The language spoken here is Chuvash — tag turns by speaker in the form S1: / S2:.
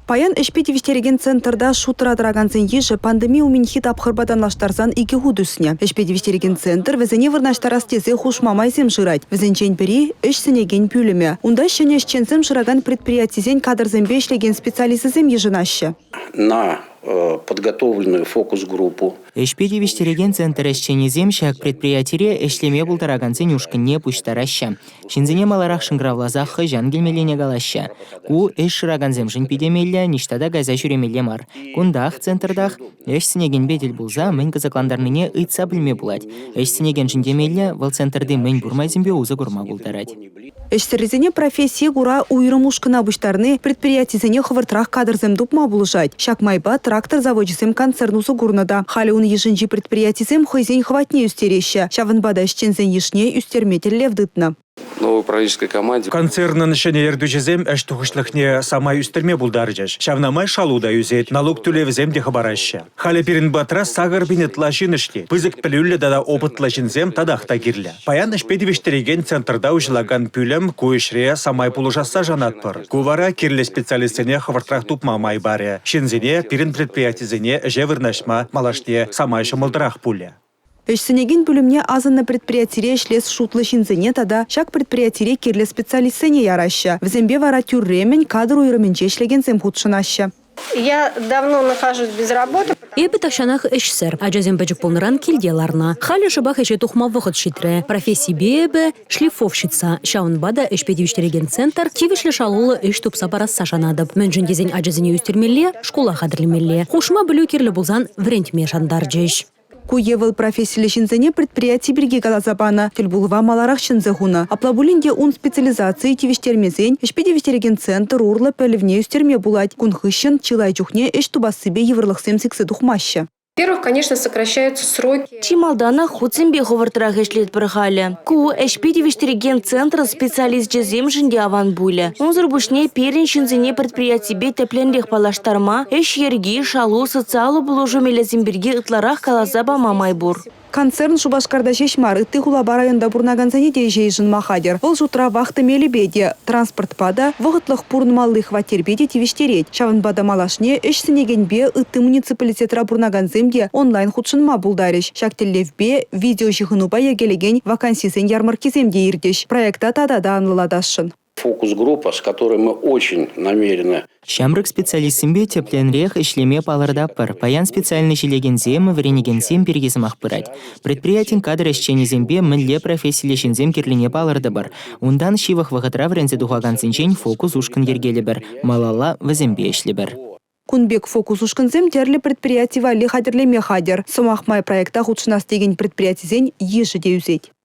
S1: Паян ӗҫпе тивӗҫтерекен центрта шутра тӑракансен йышӗ пандеми умӗнхи тапхӑрпа танлаштарсан икӗ хут ӳснӗ. Ӗҫпе тивӗҫтерекен центр вӗсене вырнаҫтарас тесе хушма майсем шырать. Вӗсенчен пӗри ӗҫ сӗнекен пӳлӗмӗ. Унта ҫӗнӗ ӗҫченсем шыракан предприятисен кадрсемпе ӗҫлекен специалисчӗсем йышӑнаҫҫӗ. На
S2: э, подготовленную фокус-группу Ӗҫпе тивӗҫтерекен
S3: центр ӗҫченӗсем ҫак предприятире ӗҫлеме пултаракансен ушкӑнне пуҫтараҫҫӗ. Ҫынсене маларах шӑнкӑравласа хӑҫан килмеллине калаҫҫӗ. Ку ӗҫ шыракансемшӗн питӗ меллӗ, ниҫта та кайса ҫӳремелле мар. Кунтах, центртах ӗҫ сӗнекенпе тӗл пулса мӗн кӑсӑклантарнине ыйтса пӗлме пулать. Ӗҫ сӗнекеншӗн те меллӗ, вӑл центрти мӗн пур майсемпе усӑ курма пултарать. Ӗҫсӗррисене
S1: профессие кура уйрӑм ушкӑна пуҫтарни предприятисене хӑвӑртрах кадрсем тупма пулӑшать. Ҫак майпа трактор завочӗсем концерн усӑ курнӑ та. Халӗ ун йышӗнчи предприятисем хӑйсен хӑватне ӳстереҫҫӗ. Ҫавӑнпа та ӗҫченсен йышне ӳстерме тӗллев тытнӑ. Новопрактической
S4: команде. Концернӑн ҫӗнӗ
S5: ертӳҫисем ӗҫ тухӑҫлӑхне самай ӳстерме пултарчӗҫ. Ҫавна май шалу та ӳсет, налук тӳлевӗсем те хӑпараҫҫӗ. Халӗ пирӗн патра сакӑр пин ытла ҫын ӗҫлет. Пысӑк пӗлӳллӗ тата опытлӑ ҫынсем татах та кирлӗ. Паян ӗҫпе тивӗҫтерекен центрта уҫӑлакан пӳлӗм ку ӗҫре самай пулӑшасса шанатпӑр. Ку вара кирлӗ специалистсене хӑвӑртрах тупма май парӗ. Ҫынсене, пирӗн предприятисене ӗҫе вырнаҫма малашне самай ҫӑмӑлтарах пулӗ. Ӗҫсӗнекен
S1: пӳлӗмне асӑннӑ предприятире ӗҫлес шутлӑ ҫынсене тата ҫак предприятире кирлӗ специалистсене яраҫҫӗ. Вӗсемпе вара тӳрремӗн кадр уйрӑмӗнче ӗҫлекенсем хутшӑнаҫҫӗ. Я
S6: давно нахожусь без работы. Эпӗ тахҫанах
S7: ӗҫсӗр. Ачасем пӗчӗк пулнӑран килте ларнӑ. Халӗ шӑпах ӗҫе тухма вӑхӑт ҫитрӗ. Профессипе эпӗ шлифовщица, ҫавӑнпа та ӗҫпе тивӗҫтерекен центр тивӗҫлӗ шалуллӑ ӗҫ тупса парасса шанатӑп. Мӗншӗн тесен ачасене ӳстермелле, шкула хатӗрлемелле. Хушма пӗлӳ кирлӗ пулсан вӗрентме шантарчӗҫ. Ку е вӑл профессиллӗ
S1: ҫынсене предприяти пирки каласа панӑ. Тӗлпулӑва маларах чӗнсе хунӑ. Апла пулин те ун специализацийӗ тивӗҫтермесен ӗҫпе тивӗҫтерекен центр урлӑ пӗлӗвне ӳстерме пулать. Кун хыҫҫӑн чылай чухне ӗҫ тупассипе йывӑрлӑхсем сиксе тухмаҫҫӗ. Во-первых, конечно,
S6: сокращаются сроки. Чи малтанах хутсемпе
S8: хӑвӑртрах ӗҫлетпӗр халӗ. Ку ӗҫпе тивӗҫтерекен центр специалисчӗсемшӗн те аван пулӗ. Унсӑр пуҫне пирӗн ҫынсене предприятипе тӗплӗнрех паллаштарма, ӗҫ йӗрки, шалу, социаллӑ пулӑшу мелӗсем пирки ытларах каласа пама май пур. Концерн Шупашкарта
S1: ҫеҫ мар, ытти хулапа районта пурӑнакансене те ӗҫе йышӑнма хатӗр. Вӑл шутра вахта мелӗпе те, транспортпа та, вӑхӑтлӑх пурӑнмалли хваттерпе те тивӗҫтерет. Ҫавӑнпа та малашне ӗҫ сӗнекенпе ытти муниципалитетра пурӑнакансем те онлайн хутшӑнма пултарӗҫ. Ҫак тӗллевпе видеоҫыхӑнупа йӗркелекен вакансисен ярмӑрккисем те иртӗҫ. Проекта тата та анлӑлатасшӑн. Фокус-группа, с
S2: которой мы очень намерены Ҫамрӑк
S3: специалистсемпе тӗплӗ ӗнрех ӗҫлеме палӑртатпӑр. Паян специальноҫ илекенсем, вӗренекенсем пирки сӑмах пырать. Предприятин кадр ӗҫченӗсемпе мӗнле профессиллӗ ҫынсем кирлине палӑртӑпӑр. Унтан ҫывӑх вӑхӑтра вӗренсе тухакансенчен фокус ушкӑн йӗркелӗпӗр, малалла вӗсемпе ӗҫлӗпӗр. Кун пек фокус
S1: ушкӑнсем тӗрлӗ предприяти валли хатӗрлеме хатӗр. Сӑмах май проекта хутшӑнас текен предприятисен йышӗ те ӳсет.